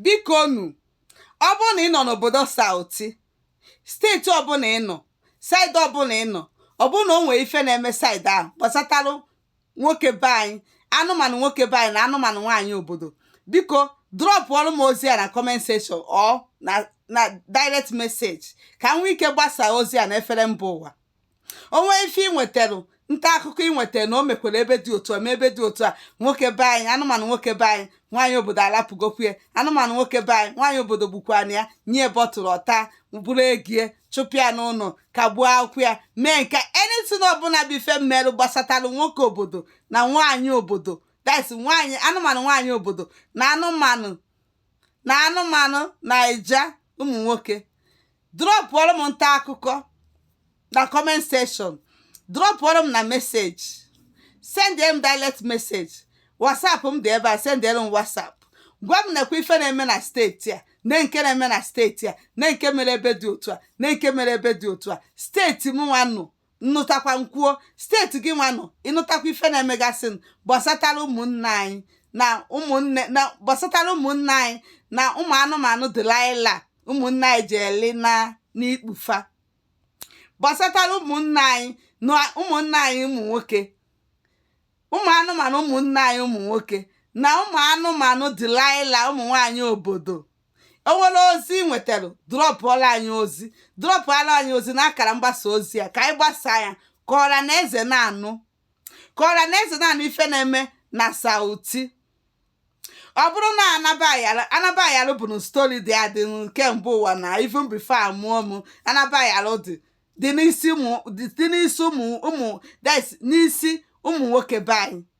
bikonu ọ bụrụ na ị nọ n'obodo sauti steeti ọbụla ị nọ saịdị ọbụla ị nọ ọ bụrụ na o nwere ife na-eme saịdị ahụ gbasatalụ nwoke be anyị anụmanụ nwoke be anyị na anụmanụ nwaanyị obodo biko drọpụọrụ m ozi a na comment section or na direct message ka m nwee ike gbasaa ozi a na efere mba ụwa o nwee ife ị nwetara nta akụkọ ị nwetara na o mekwara ebe dị otu a ma ebe dị otu a nwoke be anyị anụmanụ nwoke be anyị nwaanyị obodo alapụgokwa anụmanụ nwoke be anyị nwaanyị obodo gbukwana ya nye bọtụrụ ọta buru ego ye chụpụ ya n'ụlọ kagbuo akwụkwọ ya mee nke anything ọbụla bụ ife mmerụ gbasatara nwoke obodo na nwaanyị obodo that's nwaanyị anụmanụ nwaanyị obodo na anụmanụ na anụmanụ Naija ụmụ nwoke drọpụọrọ m nta akụkọ na comment section drọpụọrọ m na message sendere m direct message whatsapp m dị ebe a sendere m whatsapp gwa m nekwa ife na-eme na steeti a nee nke na-eme na steeti a nee nke mere ebe dị otu a nee nke mere ebe dị otu a steeti m nwanụ m nụtakwa m kwuo steeti gị nwanụ ị nụtakwa ife na-emegasị gbasatara ụmụnne anyị na ụmụnne na gbasatara ụmụnne anyị na ụmụ anụmanụ Delilah ụmụnne anyị ji eli na n'ikpu fa gbasatara ụmụnne anyị na ụmụnne anyị ụmụ nwoke ụmụ anụmanụ ụmụnne anyị ụmụ nwoke na ụmụ anụmanụ Delilah ụmụ nwaanyị obodo o nwere ozi ị nwetara drọpụọlụ anyị ozi drọpụọlụ anyị ozi na akara mgbasa ozi a ka anyị gbasaa ya ka ọra na eze na-anụ ka ọra na eze na-anụ ife na-eme na sauti ọ bụrụ na anaba ayalụ anaba ayalụ bụnụ stori dị adị kemgbe ụwa na even before a mụọ m anaba ayalụ dị dị n'isi ụmụ dị dị n'isi ụmụ ụmụ that's n'isi ụmụ nwoke be anyị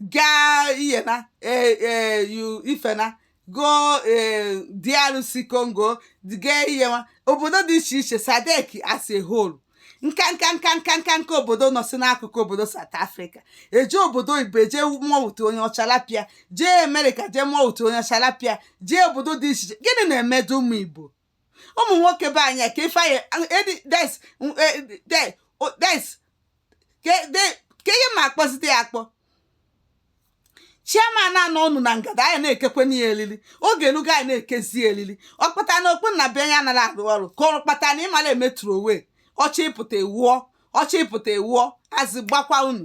gaa iyena ee ee yu ifena goo ee DRC Congo gaa iyewa obodo dị iche iche SADC as a whole nka nka nka nka nka nka obodo nọsị n'akụkụ obodo South Africa e jee obodo oyibo jee ma ọtụ onye ọcha lapịa jee Amerịka jee ma ọtụ onye ọcha lapịa jee obodo dị iche iche gịnị na-emedụ ụmụ Igbo ụmụ nwoke be anyị ka ife anyị edi des de des ka ihe ma akpọzite ya akpọ chairman anọ ọnụ na ngada anyị na-ekekwe n'ihe elili oge elugo anyị na-ekezi elili ọ kpata na okpu na be anyị anaghị arụ ọrụ ka ọ kpata na ịmara emetụrụ onwe ọchị ịpụta ewuọ ọchị ịpụta ewuọ azị gbakwa unu